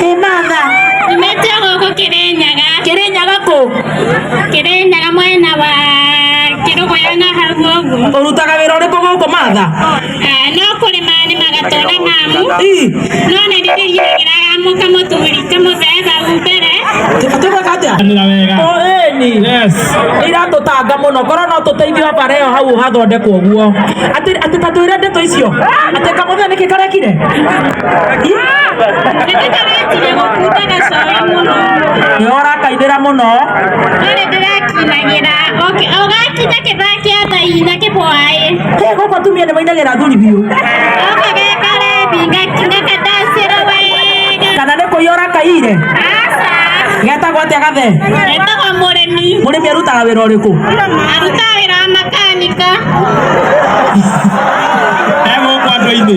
Kĩmatha. Nyumĩte gũkũ Kĩrĩnyaga. Kĩrĩnyaga kũ? Kĩrĩnyaga mwena wa Kĩrũgũya na hau ũguo. Ũrutaga wĩra ũrĩkũ gũkũ Matha? Ah, No kũrĩma nĩmaga twana mamu. Ii. No nĩ ndĩrĩgĩraga mũka mũthuri kamũthemba mbere. Tũgwĩka atĩa? O ĩni. iratũtanga mũno korwo no tũteithio bara ĩyo hau hathondekwo guo atĩ atĩ ta twĩre ndeto icio atĩ kamũthenya nĩkĩ karekire nĩũrakaithĩra mũno Ndũrĩ ndĩrakinagĩra ũgakinya kĩthaa kĩa thai na kĩbwaĩ Hĩ, gũkũ atumia nĩmainagĩra athuri biũ oka gekarebi ngakadacĩra wega kana nĩ kũiya ũrakaire aca getagwo atĩa gathe etagwo mũrĩmi mũrĩmi arutaga wĩra ũrĩkũ aruta wĩra wa makanika e gũkũ andũ-inĩ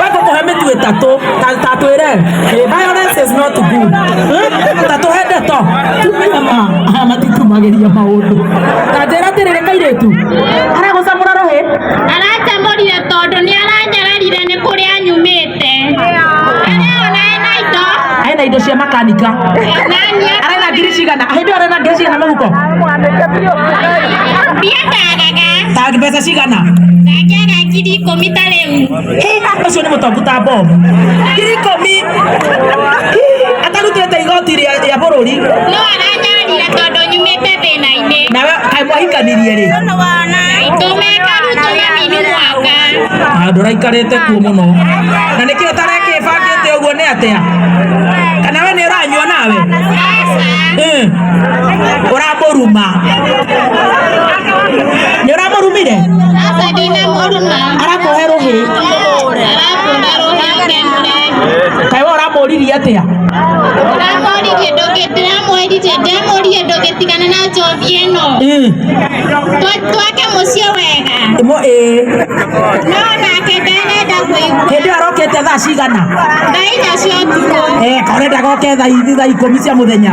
wekũkũhe mĩtu ĩtatũ ta- ta twĩre eh, violence is not good Eh, ta tũhe ndeto tumenya ma aya matitumagĩria maũndũ ta njĩra atĩrĩrĩ kairĩtu aragũcamũra rũhĩ aracamũrire tondũ nĩ aranjararire nĩ kũrĩa anyumĩte areo nae na indo arĩ na indo cia makanika nani arĩ na ngiri cigana hĩndĩ ĩyo arĩ na ngiri cigana mũhuko Tag mbeca cigana? Ndangĩaga ngiri ikũmi ta rĩu. Ũcio nĩ mũtongu ta mbomu. Ngiri ikũmi. Atarutĩte igoti rĩa rĩa bũrũri. No aranjarire tondũ nyumĩte thĩna-inĩ. Nawe kaĩ mwahikanirie rĩ? Tũmeka rĩu tũmamini mwaka. Handũ ũraikarĩte kuo mũno. Na nĩkĩ ũtarekĩbangĩte ũguo nĩ atĩa? Kana we nĩ ũranyua nawe? Aca. Eh. Ũra mũruma nĩ ũramũrumire arakũhe rũhĩ kaĩ we ũramũririe atĩa Mm. twake muciĩ wega Mo- ĩĩ. no nake ndarenda kũigua hĩndĩ ĩyo arokĩte thaa cigana thaa inya cia ũtukũ Eh, kaonendaga oke thaa ithi thaa ikũmi cia mũthenya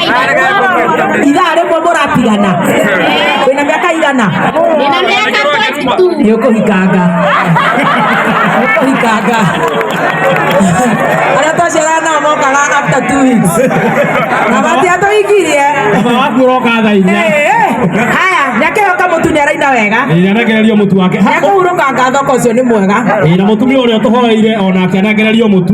ithaa rĩmwe mũratigana wĩna mĩaka igana Nina miaka 42. nĩ ũkũhikanga Nĩ ũkũhikanga arĩa twaciarana nao mokaga after two weeks na matia tũhikirie baba waku ũroka thaa inya Eh, eh. haya nyakĩhoka mũtu nĩ araina wega inanegererio mũtu wake Ha, nĩkũhurũkanga thoko ũcio nĩ mwega ĩĩ, na mũtumia ũrĩa ũtũhoreire onake anegererio mũtu